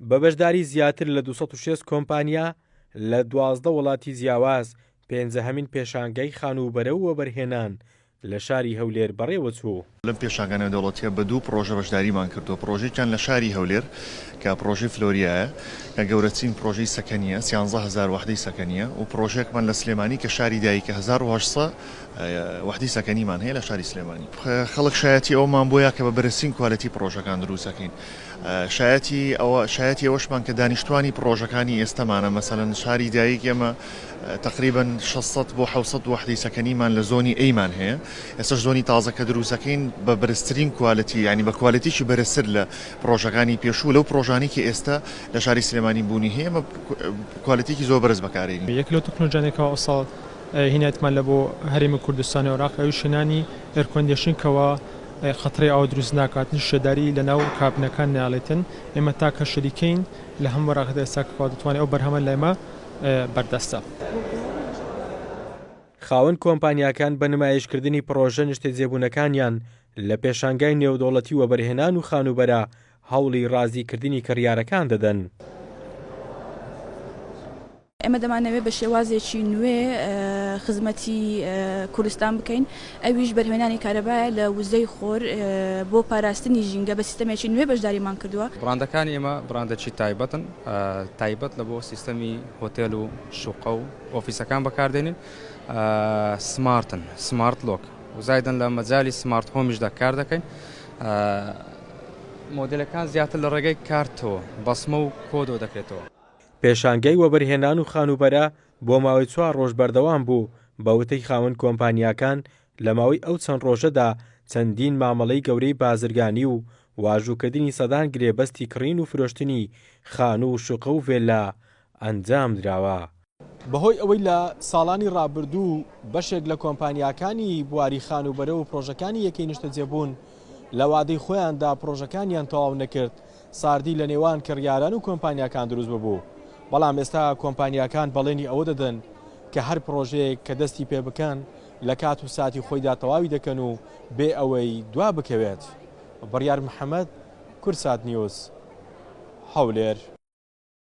بە بەشداری زیاتر لە دوو سەد و شەست کۆمپانیا لە دوازدە وڵاتی جیاواز، پێنجەهەمین پێشانگای خانووبەرە و وەبەرهێنان لە شاری هەولێر بەڕێوەچوو. لەم پێشانگا نێودەوڵەتییە بە دوو پڕۆژە بەشداریمان کردووە، پڕۆژەیەکیان لە شاری هەولێر کە پڕۆژەی فلۆریایە کە گەورەترین پڕۆژەی سەکەنییە، سیانزە هەزار وەحدەی سەکەنییە و پڕۆژەیەکمان لە سلێمانی کە شاری دایکە هەزار و هەشت سەد وەحدەی سەکەنیمان هەیە لە شاری سلێمانی. خەڵک شایەتی ئەوەمان بووە کە بە بەرزترین کوالێتی پڕۆژەکان دروست دەکەین. شایەتی ئەوە شایەتی ئەوەشمان کە دانیشتووانی پڕۆژەکانی ئێستەمانە مەسەلەن شاری دایک ئێمە تەقریبەن شەش سەد بۆ حەوت سەد وەحدەی سەکەنیمان لە زۆنی ئەیمان هەیە. ئێستەش زۆنی تازە کە دروست دەکەین بە بەرزترین کوالێتی یانی بە کوالێتیی بەرزتر لە پڕۆژەکانی پێشوو لەو پڕۆژانەی کە ئێستە لە شاری سلێمانی بوونی هەیە ئێمە کوالێتیی زۆر بەرز بەکارێنین. یەک لەو تەکنۆلجانەی کەوا ئەوساڵ هینایەتمان لە بۆ هەرێمی کوردستانی عراق ئەویش هێنانی ئێرکۆندێشن کەوا قەترەی ئاو دروست ناکات هیچ شێداری لەناو کابنەکان نایڵێتن ئێمە تاکە شەریکەین لە هەموو عراقدا ئێستا کەوا دەتوانێت ئەو بەرهەمە لای ئێمە بەردەستە. خاوەن کۆمپانیاکان بە نمایشکردنی پڕۆژە نیشتەجێبوونەکانیان لە پێشانگای نێودەوڵەتی وەبەرهێنان و خانووبەرە هەوڵی رازیکردنی کڕیارەکان دەدەن. ئێمە دەمانەوێت بە شێوازێکی نوێ خزمەتی کوردستان بکەین ئەویش بەرهێنانی کارەبایە لە وزەی خۆر بۆ پاراستنی ژینگە بە سیستەمێکی نوێ بەشداریمان کردووە. بڕاندەکانی ئێمە بڕاندەکی تایبەتن تایبەت لە بۆ سیستەمی هۆتێل و شوقە و ئۆفیسەکان بەکاردێنین سمارتن سمارت لۆک و زایدن لە مەجای سمارت هۆمیشدا کار دەکەین مۆدلەکان زیاتر لە ڕێگەی کارتەوە بەسمە و کۆدۆ دەکرێتەوە. پێشانگای وەبەرهێنان و خانووبەرە بۆ ماوەی چوار رۆژ بەردەوام بوو، بە وتەی خاوەن کۆمپانیاکان لە ماوەی ئەو چەند رۆژەدا چەندین مامەڵەی گەورەی بازرگانی و واژووکردنی سەدان گرێبەستی کڕین و فرۆشتنی خانوو و شوقە و ڤێللا ئەنجامدراوە. بەهۆی ئەوەی لە ساڵانی رابردوو بەشێک لە کۆمپانیاکانی بواری خانووبەرە و پڕۆژەکانی یەکەی نیشتەجێبوون لە وادەی خۆیاندا پڕۆژەکانیان تەواو نەکرد، ساردی لە نێوان کڕیاران و کۆمپانیاکان دروست ببوو، بەڵام ئێستا کۆمپانیاکان بەڵێنی ئەوە دەدەن کە هەر پڕۆژەیەک کە دەستی پێ بکەن لە کات و ساتی خۆیدا تەواوی دەکەن و بێ ئەوەی دوا بکەوێت. بڕیار محەمەد، کوردساتنیوز، هەولێر.